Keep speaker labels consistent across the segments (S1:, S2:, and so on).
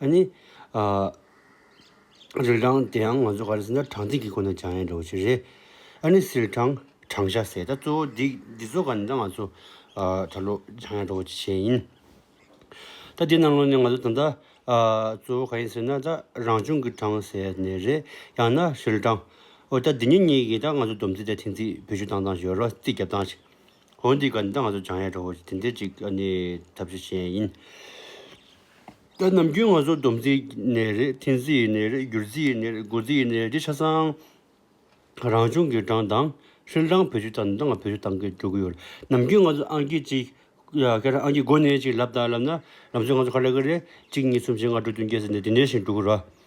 S1: ཨ་ནི། རི་གྲངས་དེའང་ང་ཚོ་ག་རེ་ཟེར་ན་གྲངས་ཚིག་གི་སྒོ་ནས་སྦྱང་ཡས་འགྲོ་བ་ཞིག་རེད། ཨ་ནི་སིལ་གྲངས་གྲངས་བཞག་ཟེར་ད་གཙོ་བོ་འདི་འདི་ཚོ་ག་ནི་ད་ང་ཚོ་ད་ལོ་སྦྱང་ཡས་འགྲོ་བ་ཅིག་བྱས་ཡིན། ད་འདི་གནང་ལོ་ནི་ང་ཚོ་ད་ལྟ་གཙོ་བོ་ག་ཡིན་ཟེར་ན་ད་རང་བྱུང་གི་གྲངས་ཟེར་ནི་རེད་ཡང་ན་སིལ་གྲངས། འོ་ད་འདི་གཉིས་གཉིས་ཀྱིས་ད་ང་ཚོ་སྡོམ་ཚིག་དང་ཐིང་ཚིག་བེད་སྤྱོད་བཏང་བཏང་ཞིག་རོ་རྩིས་རྒྱབ་སྟངས་ཤིག། འོ་འདི་ག་ནི་ད་ང་ཚོ་སྦྱང་ཡས་འགྲོ་བ་ཅིག་དེ་འདྲས་ཅིག་ཨ་ནི་ཐབས་ཤེས་བྱས་ཡིན། ད་ནམ་རྒྱུན་ང་ཚོ་སྡོམ་རྩིས་ནས་རེད་མཐིལ་རྩིས་ཡི་ནས་རེད་བསྒྱུར་རྩིས་ཡི་ནས་རེད་སྒོ་རྩིས་ཡི་ནས་རེད་ཆ་ཚང་རང་བྱུང་གི་གྲངས་དང་ཧྲིལ་གྲངས་བེད་སྤྱོད་དང་འདི་འང་བེད་སྤྱོད་གཏང་གི་འགྲོ་གི་ཡོད་ནམ་རྒྱུན་ང་ཚོ་ཨང་ཀི་གཅིག་གི་ཁ་རང་ཨང་ཀི་སྒོ་ནས་ཅིག་ལབ་དང་ལབ་ན་ལམ་སྲོལ་ང་ཚོ་ག་ལ་གི་རེད་གཅིག་གཉིས་གསུམ་བཞི་ལྔ་དྲུག་བདུན་བརྒྱད་ཟེར་ནས་དེ་འདྲའི་བཞིན་འགྲོ་གི་རོ།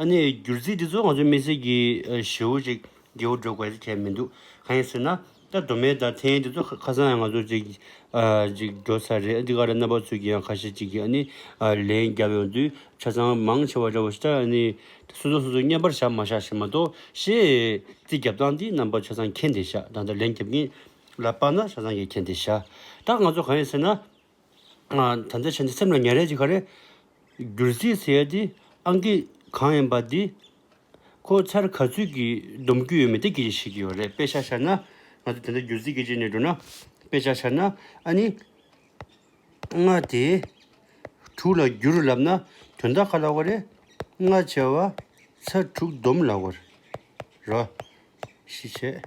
S1: ཨ་ནེ། སྒྱུར་རྩིས་འདི་ཚོ་ང་ཚོའི་མི་སེར་གྱི་བྱེའུ་ཅིག་སྒེའུ་སྒྲོལ་དགོས་ལྟ་བྱས་མི་འདུག་གང་ཡིན་ཟེར་ན། ད་གདོད་མའི་ད་ཐེངས་འདི་ཚོ་ཁ་སང་ཡང་ང་ཚོ་ཅིག་ཅིག་འགྲོ་ས་རེད་འདི་ག་རེ་རྣམ་པ་ཚོས་ཀྱི་ཡང་ཁ་ཤས་ཅིག་གིས་ཨ་ནེ། ལན་བརྒྱབ་ཡོང་དུས་ཆ་ཚང་མང་ཆེ་བ་འདྲ་བོ་ཞིག་ད་ཨ་ནེ། སོ་སོ་སོ་སོ་བརྙན་པར་བཞག་མ་བཞག་ཞིག་མ་གཏོགས་ཤེས། རྩིས་བརྒྱབ་སྟངས་འདི་རྣམ་པ་ཆ་ཚང་མཁྱེན་བདེ་ཤག་ད་ལྟ་ལན་བརྒྱབ་མཁན་ལ་དཔག་ན་ཆ་ཚང་གིས་མཁྱེན་བདེ་ཤག་ད་ང་ཚོ་གང་ཡིན་ཟེར་ན། ད་ལྟ་བྱས་ནས་སེམས་ལ་ཉེ་རེག་ཅིག་ག་རེ། བསྒྱུར་རྩིས་ཟེར་ཏེ་ཨང་ཀི་གང་ཡིན་པ་འདི། ཁོ་ཚར་ག་ཚོད་ཀྱིས་སྡོམ་རྒྱུ་ཡོད་མེད་དེ་གི་ཤེས་ཀྱི་ཡོད་རེད་དཔེ་ཆ་ཤར་ན། ང་ཚོ་དེ་འདྲ་བསྒྱུར་རྩིས་གི་རྗེས་ནས་འགྲོ་ན། དཔེ་ཆ་ཤར་ན་ཨ་ནི། ལྔ་དེ། དྲུག་ལ་བསྒྱུར་ལབ་ན་དོན་དག་ག་ལ་བ་རེད། ལྔ་བྱས་བ། ཚར་དྲུག་སྡོམ་ལ་བར། རོ། ཤི་བྱས།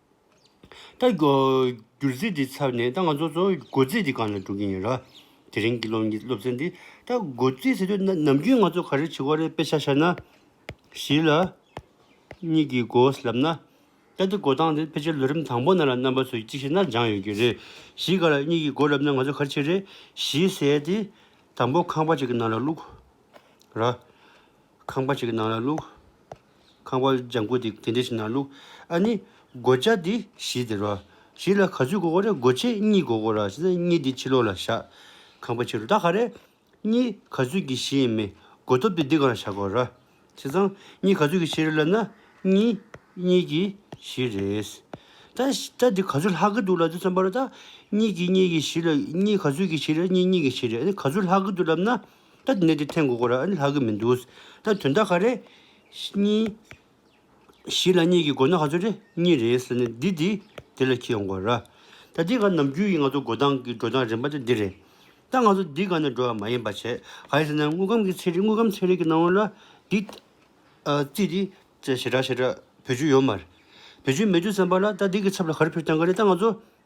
S1: ད། སྒྱུར་རྩིས་དེ་ཚར་ནས་ད་ང་ཚོ་ཚོ་སྒོ་རྩིས་དེ་གང་ནས་སྒྲུབ་ཀྱིན་ཡིན་ར། དེ་རིང་གི་སློབ་གཉེར་སློབ་ཚན་འདི་ད་སྒོ་རྩིས་ཟེར་དུས་ནམ་རྒྱུན་ང་ཚོ་ག་རེ་བྱེད་ཀོ་རེ་དཔེ་ཆ་ཤར་ན། བཞི་ལ། གཉིས་ཀྱིས་སྒོས་ལབ་ན། ད་དེ་སྒོ་སྟངས་དེ་ཕལ་ཆེར་ལོ་རིམ་དང་པོ་ནང་ལ་རྣམ་པ་ཚོས་ཅིག་ཤེས་ན་སྦྱངས་ཡོད་ཀྱི་རེད། བཞི་ག་ལ་གཉིས་ཀྱིས་སྒོ་ལབ་ན་ང་ཚོ་ག་རེ་བྱེད་རེད་བཞི་ཟས་དེ། དང་པོ་ཁང་པ་ཅིག་གི་ནང་ལ་བླུགས། ར། ཁང་པ་ཅིག་གི་ནང་ལ་བླུགས། ཁང་པ་ལྗང་ཁུ་དེ་དེ་འདྲ་ཞིག་ན་ལུག་ཨ་ནི། སྒོ་ལྕགས་འདི་བཞི་དེ་རོ། བཞི་ལ་ག་ཚོད་སྒོ་དགོས་རེད་སྒོ་ཕྱེ་གཉིས་སྒོ་དགོས་ར་བྱས་ཙང་གཉིས་དེ་ཕྱི་ལོགས་ལ་བཞག། ཁང་པ་ཕྱི་རུ་ད་ག་རེད། གཉིས་ག་ཚོད་ཀྱི་བཞི་ཡིན་མི་སྒོ་ཐོབ་དེ་འདི་གང་ལ་བཞག་དགོས་ར། བྱས་ཙང་གཉིས་ག་ཚོད་ཀྱི་བཞི་རེད་ལབ་ན་གཉིས་གཉིས་ཀྱི་བཞི་རེད། ད་ད་འདི་ག་ཚོད་ལྷག་གི་འདུག་ལབ་དུས་སམ་པ་རོ་ད། གཉིས་གྱི་གཉིས་ཀྱི་བཞི་ལ་གཉིས་ག་ཚོད་ཀྱི་བཞི་རེད་གཉིས་གཉིས་ཀྱི་བཞི་རེད་ཨ་ནི་ག་ཚོད་ལྷག་གི་འདུག་ལབ་ན། ད་དེ་ནས་དེ་ཐེངས་གོ་གོ་ར་ལྷག་གི་མི་འདུག་ད་དོན་དག་ག་རེད། གཉིས། བཞི་ལ་གཉིས་ཀྱི་མགོ་ན་ག་ཚོད་རེད་གཉིས་རེད་ཟེར་ནས་འདི་དེ་དེ་ལ་ཁྱེར་ཡོང་གོ་ར། ད་དེ་ག་ནམ་རྒྱུན་ཡིན་ང་ཚོ་འགོ་སྟངས་ཀྱི་འགྲོ་སྟངས་རིམ་པ་དེ་འདི་རེད། ད་ང་ཚོ་འདི་ག་ནས་འགྲོ་བ་མ་ཡིན་པ་བྱས་ག་རེད་ཟེར་ན་དངུལ་ཁམས་ཀྱི་ཚད་རིག་དངུལ་ཁམས་ཚད་རིག་གི་སྣང་བ་ལ་འདི། རྩིས་འདི། ཞེ་དྲག་ཞེ་དྲག་བེད་སྤྱོད་ཡོད་མ་རེད། བེད་སྤྱོད་མེད་རྒྱུ་བསམ་པ་ལ་ད་འདི་གི་ཚབ་ལ་ག་རེ་ཕེབས་ཀྱང་ག་རེད་ད་ང་ཚོ།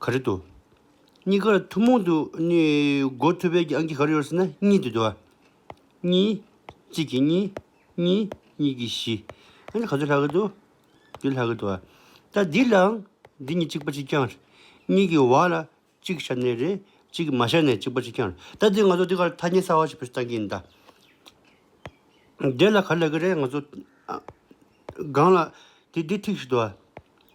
S1: ག་རེད་དོ། གཉིས་ཀར་ཐུན་མོང་དུ་སྒོ་ཐོད་པའི་ཀྱང་གིས་ག་རེ་ཡོད་ཟེར་ན་གཉིས་དེ་དོ། གཉིས། གཅིག་གིས་གཉིས། གཉིས། གཉིས་གིས་བཞི། ཨ་ཧ་ག་ཚོད་ལྷག་གི་འདུག་འདི་ལྷག་གི་འདུག་ཨ། ད་འདི་ལའང་འདི་གཉིས་གཅིག་པ་གཅིག་རྐྱང་རེད། གཉིས་ཀྱི་བར་ལ་གཅིག་ཤར་ནས་རེད། གཅིག་གིས་མ་ཤར་ནས་གཅིག་པ་གཅིག་རྐྱང་རེད། ད་འདི་ང་ཚོ་འདི་གར་ཐ་སྙད་གསར་བ་ཞིག་བེད་སྤྱོད་བཏང་གིན་གདའ། འདི་ལ་ག་རེ་ལབ་ཀྱི་རེད་ང་ཚོ། སྒང་ལ། དེ་འདི་ཐིག་ཞིག་འདུག་ཨ།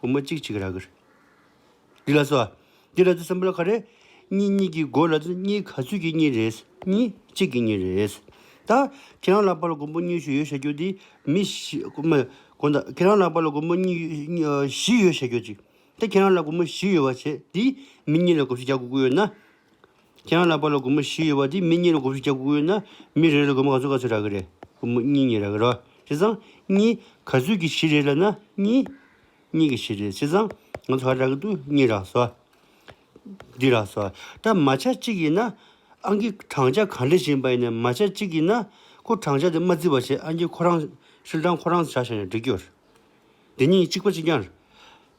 S1: བུ་མོ་གཅིག་གཅིག་ར་གིར། འདི་ལ་སོགས། འདི་ལ་ཚུལ་གསུམ་པོ་ལ་ག་རེ། གཉིས་གཉིས་ཀྱི་སྒོ་ལ་ཚུལ་གཉིས་ག་ཚུལ་གྱིས་གཉིས་རེད། གཉིས་གཅིག་གིས་གཉིས་རེད། ད། ཁྱེད་རང་ལ་པ་ལ་མགོན་པོ་གཉིས་ཤུ་ཡོད་བཤད་རྒྱུ་འདི། མི་བཞི། དགོན་བདག་ཁྱེད་རང་ལ་པ་ལ་མགོན་པོ་གཉིས། བཞི་ཡོད་བཤད་རྒྱུ་གཅིག། ད་ཁྱེད་རང་ལ་མགོན་པོ་བཞི་ཡོད་བ་བྱས་འདིས། མི་གཉིས་ལ་དགུ་བཞི་བརྒྱ་དགུ་དགུ་ཡོད་ན། ཁྱེད་རང་ལ་པ་ལོ་དགུ་མོ་བཞི་ཡོད་པ་དེ་མི་གཉིས་ལ་དགུ་བཞི་བརྒྱ་དགུ་ཡོད་ན་མི་རེ་རེ་ལ་དགུ་མོ་ག་ཚོད་ག་ཚོད་རག་གི་རེད་དགུ་མོ་གཉིས་གཉིས་རག་གི་རོ་བྱས་ཙང་གཉིས་ག་ཚོད་ཀྱི་བཞི་རེ་ལ་ན་གཉིས་གཉིས་ཀྱི་བཞི་རེ་བྱས་ཙང་ང་ཚོ་ག་རག་གི་འདུག་གཉིས་རག་སོ། འདི་རག་སོ། ད་མ་ཆ་གཅིག་ཡིན་ན་ཨང་ཀི་བགྲང་བྱ་ག་འདྲི་བཞིན་པ་ཡིན་ནས་མ་ཆ་གཅིག་ཡིན་ན་ཁོ་བགྲང་བྱ་དེ་མ་བརྩི་བ་བྱས་ཨང་ཀི་ཁོ་རང་ཧྲིལ་བགྲང་ཁོ་རང་བྱ་བྱས་ནས་འགྲིག་གི་ཡོད་རེད། འདི་གཉིས་གཅིག་པ་གཅིག་རྐྱང་རེད།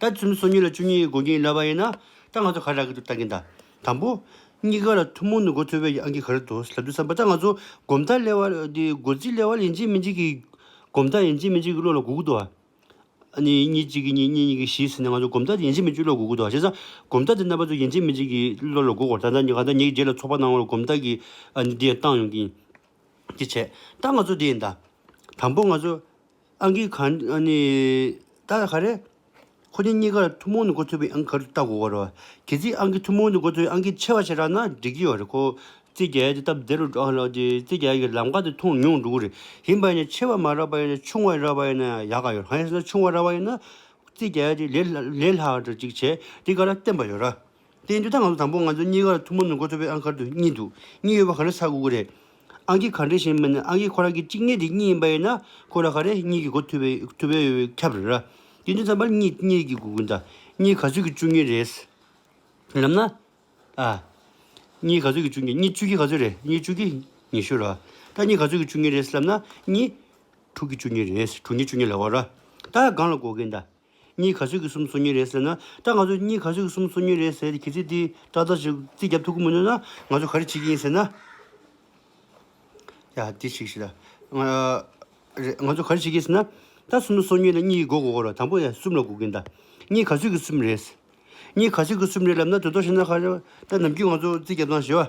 S1: ད་ཚུན་མི་སོ་གཉིས་ལ་བཅུ་གཉིས་སྒོ་འགྱིང་ལབ་པ་ཡིན་ན་ད་ང་ཚོ་ག་རེ་རག་གི་འདུག་ལྟ་གིན་ད། དང་པོ། གཉིས་ཀ་ལ་ཐུན་མོང་ནས་འགོ་ཚོལ་བའི་ཨང་ཀི་ག་རེ་འདུག་ལབ་དུས་བསམ་པ་ད་ང་ཚོ་སྒོམ་རྟགས་གླེ་བ། འདི་སྒོ་རྩིས་གླེ་བ་ལ་ཡིན་གཅིག་མིན་གཅིག་གི། སྒོམ་རྟགས་ཡིན་གཅིག་མིན་གཅིག་གི་བློ་ལ་འགུག་དགོས་ཏོ། གཉིས་གཉིས་གཅིག་གི་གཉིས་གཉིས་གཉིས་ཀྱི་བཞི་ཟེར་ནས་ང་ཚོ་སྒོམ་རྟགས་དེ་ཡིན་གཅིག་མིན་གཅིག་བློ་ལ་འགུག་དགོས་ཏོ་བྱས་ཙང། སྒོམ་རྟགས་དེ་རྣམ་པ་ཚོ་ཡིན་གཅིག་མིན་གཅིག་གི་བློ་ལ་འགུག་གོ་ད་ད་ག་ད་ཉེ་རྗེས་ལ་ཚོགས་པ་གནང་བ་ལ་སྒོམ་རྟགས་ཀྱི་འདི་ཡང་བཏང་ཡོང་གིན། དེ་བྱས་ད་ང་ཚོ་དེ་ཡིན་ད། དང་པོ་ང་ཚོ། ཨང་ཀི་གང། ད་ག་རེད། ཁོ་གཉིས་གཉིས་ཀར་ཐུན་མོང་ནས་འགོ་ཚུགས་པའི་ཨང་ཀི་ག་རེ་ལྟ་དགོས་ཀ་རོ། གལ་སྲིད་ཨང་ཀི་ཐུན་མོང་ནས་འགོ་ཚུགས་པའི་ཨང་ཀི་ཆེ་བ་ཞིག་རག་ན་འགྲིག་གི་ཡོད་རེད་ཁོ། རྩིས་རྒྱལ་གྱི་སྟབས་བདེ་རུ་འགྲོ་ཨ་ལོ་རྗེ་རྩིས་རྒྱལ་གྱི་ལམ་ཁ་དེ་མཐོང་མྱོང་འདུག་རེད་ཡིན་པ་ཡིན་ཆེ་བ་མ་རག་པ་ཡིན་ན་ཆུང་བ་རག་པ་ཡིན་ན་ཡག་ག་ཡོད་རང་ཡིན་ན་ཆུང་བ་རག་པ་ཡིན་ན། རྩིས་རྒྱལ་གྱི་ལས་ལས་ལྷག་འདྲ་ཅིག་བྱས་འདི་ག་ར་བསྟན་པ་ཡོད་ར། བསྟན་རྒྱུ་དང་ང་ཚོ་དང་པོ་ང་ཚོ་གཉིས་ཀར་ཐུགས་མ་ནུ་མཁོ་སྤྲོད་པའི་ཨང་དཀར་དུ་གཉིས་འདུག་གཉིས་ཡོད་པ་ག་རེ་ས་དགུ་དགུ་རེད། ཨང་ཀི་ག་འདྲེ་ཞེས་སྨྲས་ན་ཨང་ཀི་ཁོ་རང་གི་གཅིག་གནས་དེ་གཉིས་ཡིན་པ་ཡིན་ན་ཁོ་རང་ག་རེ་གཉིས་ཀྱི་སྒོ་ཐུ་བའི་ཐུ་བའི་ཡོ་བའི་ཁྱབ་རེད་ར། དེ་དུས་མཚམས་པར་གཉིས་གཉིས་རིགས་ཀྱི་དགུ་དགུ་འདའ། གཉིས་ག་ཚོད་ཀྱི་བཅུ་གཉིས་རེད། ལབ་ན། ཨ། གཉིས་ག་ཚོད་ཀྱི་བཅུ་གཉིས་གཉིས་བཅུ་གྱིས་ག་ཚོད་རེད་གཉིས་བཅུ་གྱིས་ཉི་ཤུ་ར། ད་གཉིས་ག་ཚོད་ཀྱི་བཅུ་གཉིས་རེད་ལབ་ན་གཉིས། དྲུག་གི་བཅུ་གཉིས་རེད་དྲུག་གཉིས་བཅུ་གཉིས་ལ་བ་ར། ད་གང་ལ་སྒོ་གིས་འདའ། གཉིས་ག་ཚོད་ཀྱི་གསུམ་སོ་གཉིས་རེད་ཟེར་ན་སྐྲ་ང་ཚོས་གཉིས་ག་ཚོད་ཀྱི་གསུམ་སོ་གཉིས་རེད་ཟེར་ཏེ་གི་རྩི་འདི་སྐྲ་རྩ་ཅིག་རྩིས་རྒྱབ་ཐུག་གི་མི་འདུག་ན་ང་ཚོས་ག་རེ་བྱེད་ཀྱི་ཡིན་ཟེར་ན། ཡ་འདི་ཞིག་ཞིག་ལ། རེད་ང་ཚོས་ག་རེ་བྱེད་ཀྱི་ཡིན་ཟེར་ན། སྐྲ་གསུམ་སོ་གཉིས་ལ་གཉིས་ཀྱིས་སྒོ་དགོ་རོགས་དང་པོ་ཡ་གསུམ་ལ་སྒུག་གིན་གདའ། གཉིས་ག་ཚོད་ཀྱི་གསུམ་རེད། གཉིས་ག་ཚོད་ཀྱི་གསུམ་རེད་ལབ་ན་དོལ་ཐོག་ཤི་ན་ཁ་རེ། སྐྲ་ནམ་རྒྱུན་ང་ཚོ་རྩིས་རྒྱབ་དང་ཞེས་པ།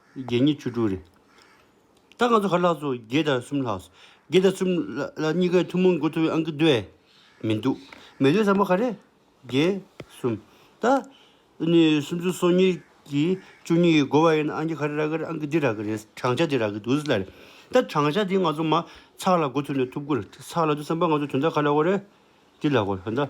S1: བརྒྱད་གཉིས་བཅུ་དྲུག་རེད། ད་ང་ཚོ་ཧ་ལགས་ཚོ་བརྒྱད་དང་གསུམ་ལགས། བརྒྱད་དང་གསུམ་ལ་གཉིས་ཀའི་ཐུན་མོང་མགོ་ཐོག་ཨང་ཀི་འདུག་ཨེ། མི་འདུག། མེད་དོན་བཟང་པོ་ག་རེད། བརྒྱད། གསུམ། ད། ནི་སུམ་བཅུ་སོ་གཉིས་ཀྱིས་བཅུ་གཉིས་ཀྱི་མགོ་བ་ཡིན་ན་ཨང་ཀི་ག་རེ་རག་གི་རེད་ཨང་ཀི་འདི་རག་གི་རེད་བགྲང་བྱ་འདི་རག་གི་འདུག་ཟེར་ལ་རེད། ད་བགྲང་བྱ་འདི་ང་ཚོ་མ་ཚགས་ལ་མགོ་ཐོག་ནས་ཐུབ་དགོས་རེད། ཚགས་ལ་འདི་བསམ་པ་ང་ཚོ་དོན་དག་ག་ལ་གོ་རེད། འདི་ལ་གོ། འོན་ཏ།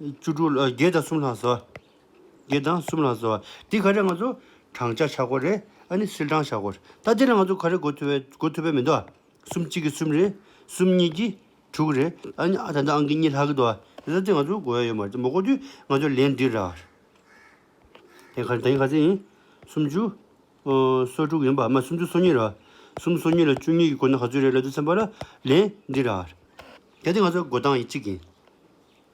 S1: བཅུ་དྲུག་ལ་བརྒྱད་དང་གསུམ་ལྷག་བཟོ། བརྒྱད་དང་གསུམ་ལྷག་བཟོ། དེ་ག་རེ་ང་ཚོ་བགྲང་བྱ་བྱ་གོ་རེད་ཨ་ནི་སིལ་བགྲང་བྱ་གོ་རེད་ད་དེ་ལ་ང་ཚོ་ག་རེ་གོ་ཐུབ་བས་གོ་ཐུབ་བས་མི་འདུག་ཨ། གསུམ་གཅིག་གིས་གསུམ་རེད་གསུམ་གཉིས་ཀྱིས་དྲུག་རེད་ཨ་ནི་ཨ་ད་ལྟ་ཨང་ཀི་གཉིས་ལྷག་གི་འདུག་ཨ་ད་དེ་ང་ཚོ་གོ་ཡ་ཡོད་མ་རེད་མ་གོ་དུས་ང་ཚོ་ལན་འདི་ར། དེ་ག་དེ་ག་ཚོད་ཡིན་སུམ་བཅུ་སོ་དྲུག་ཡིན་པ་མ་སུམ་བཅུ་སོ་གཉིས་ར། གསུམ་སོ་གཉིས་ལ་བཅུ་གཉིས་ཀྱིས་གོ་ན་ག་ཚོད་རེད་ལབ་ཏུ་སེམས་པ་ལ་ལན་འདི་ར། གལ་ཏེ་ང་ཚོ་གོ་སྟངས་གཅིག་ཡིན།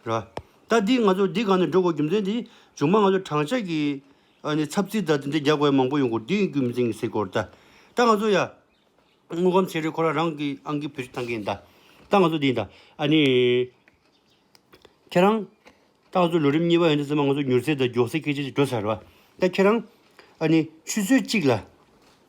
S1: ར། ད་འདིས་ང་ཚོར་འདི་གང་ནས་འགྲོ་དགོས་རྒྱུ་མཚན་དེ་ཅུང་མ་ང་ཚོ་བགྲང་བྱ་གི། ཨ་ནི་ཚབ་ཚིག་དག་དེ་འདྲའི་རྒྱག་དགོས་ཡ་མང་པོ་ཡོང་སྐོར་འདི་ཡིན་རྒྱུ་མི་མཚན་གི་ཟེར་སྐོར་ད། ད་ང་ཚོ་ཡ། དངོས་ཁམས་ཆེ་རེ་ཁོ་ར་རང་གི་ཨང་གི་བུ་ཅིག་ཐང་གིན་ད། ད་ང་ཚོ་འདི་ཡིན་ད། ཨ་ནི། ཁྱེད་རང། ད་ང་ཚོ་ལོ་རིམ་གཉིས་པ་ཡོང་དུས་ཚང་མ་ང་ཚོ་མྱུར་ཚད་དང་མགྱོགས་ཚད་སྐད་ཆ་ཅིག་འགྲོ་ཚར་བ། ད་ཁྱེད་རང། ཨ་ནི། ཆུ་ཚོད་གཅིག་ལ།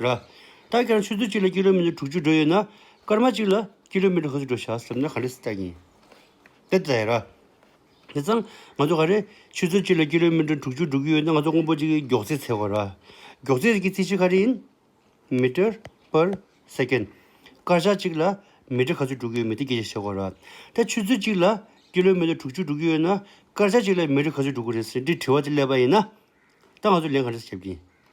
S1: ར། སྟག་རྒྱང་ཆུ་ཚོད་གཅིག་ལ་ཀི་ལོ་མི་ནི་དྲུག་ཅུ་འགྲོ་ཡོད་ན། སྐར་མ་གཅིག་ལ་ཀི་ལོ་མི་ནི་ག་ཚོད་འགྲོ་བྱ་ཟེར་ན་ག་རེ་སྟག་ཡིན། དེ་ལྟ་ཡིན། ར། དེ་ཙང་ང་ཚོ་ག་རེ། ཆུ་ཚོད་གཅིག་ལ་ཀི་ལོ་མི་ནི་དྲུག་ཅུ་འགྲོ་གི་ཡོད་ན་ང་ཚོ་དངོས་པོ་གཅིག་གི་མགྱོགས་ཚད་ཚད་དགོས། ར། མགྱོགས་ཚད་ཀྱི་རྩིས་ཆེན་ག་རེ་ཡིན། Meter per Second། སྐར་ཆ་གཅིག་ལ་མི་ཏྲི་ག་ཚོད་འགྲོ་གི་ཡོད་མེད་དེ་རྒྱས་བཤད་བྱེད་དགོས། ར། ད་ཆུ་ཚོད་གཅིག་ལ་ཀི་ལོ་མི་ནི་དྲུག་ཅུ་འགྲོ་གི་ཡོད་ན། སྐར་ཆ་གཅིག་ལ་མི་ཏྲི་ག་ཚོད་འགྲོ་གི་རེད་ཟེར་འདྲི་དྲི་བ་དེ་ཀླད་པ་ཡིན། ད་ང་ཚོ་ལན་ག་རེ་བྱེད་ཀྱི་ཡིན།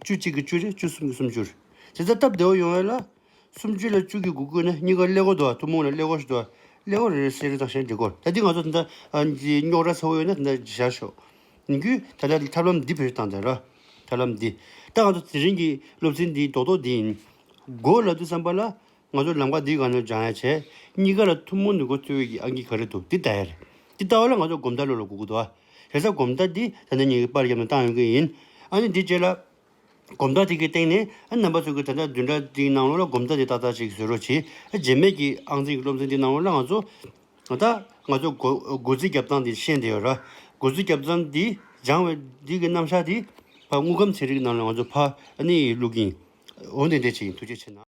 S1: བཅུ་གཅིག་གིས་བཅུ་རེ་བཅུ་གསུམ་གྱིས་སུམ་ཅུ། དེ་ལྟར་སྟབས་བདེ་བོ་ཡོང་བས་ལ། སུམ་བཅུ་ལ་བཅུ་གིས་དགུ་བསྐུལ་ན་གཉིས་ཀ་ཀླད་ཀོར་འདུག་ཨ་ཐུང་མོང་ལ་ཀླད་ཀོར་ཞིག་འདུག་ཨ། ཀླད་ཀོར་རེ་རེ་གསེར་རེ་དང་ཞེ་འདྲེ་བསྐོར། ད་འདི་ང་ཚོ་དེ་འདྲ་རྙོག་དྲ་ཚ་བོ་ཡོད་ན་དེ་འདྲ་བཞག་ཤོག། ཡིན་རྒྱུ། ད་ལྟ་ཐབས་ལམ་འདི་བེད་སྤྱོད་བཏང་སྟེ་ལ། ཐབས་ལམ་འདི། ད་ང་ཚོ་དེ་རིང་གི་སློབ་ཚན་འདིའི་རྡོག་རྡོག་འདི་ཡིན། མགོ་ལ་དུས་བསམ་པ་ལ། ང་ཚོ་ལམ་ཁ་འདིའི་སྒང་ནས་འཇང་ཡ་བྱས། གཉིས་ཀ་ལ་ཐུན་མོང་ནས་འགོ་བརྩོད་འོས་ཀྱི་ཨང་ཀི་ག་རེ་འདུག་འདི་ལྟ་ཡ་རེད། འདི་ལྟ་བ་ལ་ང་ཚོ་གོམ་སྟབས་ལོ་ལ་དགུ་དགུ་འདུག་ཨ། རེས་གཟའ་གོམ་སྟབས་འདི་ད་ལྟ་ཉིན་གྱི་པར་རྒྱབ་ནས་བཏང་ཡོང་གི་ཡིན། ཨ་ནི་འདི་བྱས་ལ། གོམ་སྟབས་དེ་གའི་སྟེང་ནས་ཨ་རྣམ་པ་ཚོས་ཀྱི་ད་ལྟ་བདུན་ཕྲག་འདིའི་གནང་ལོ་ལ་གོམ་སྟབས་འདི་ཏག་ཏག་ཅིག་བཟོས་རོགས་གྱིས་ཨ་རྗེས་མེད་ཀྱི་ཨང་རྩིས་ཀྱི་སློབ་ཚན་འདི་གནང་ལོ་ལ་ང་ཚོ། ད་ལྟ་ང་ཚོ་འགོ་འགོ་རྩིས་རྒྱབ་སྟངས་འདི་ཤེས་འདི་ཡོད་ར། འགོ་རྩིས་རྒྱབ་སྟངས་འདི་སྦྱང་བའི་འདི་གི་རྣམ་གཞག་འདི། ཕ་དངུལ་སྒམ་ཚིག་རིགས་རྣམས་ལ་ང་ཚོ་ཕ་ཨ་ནི་ཡིས་བླུག་གིན། འོན་ཏེ་འདྲེ་བྱེད་ཀྱིན་ཐུགས་རྗེ་ཆེ་ན།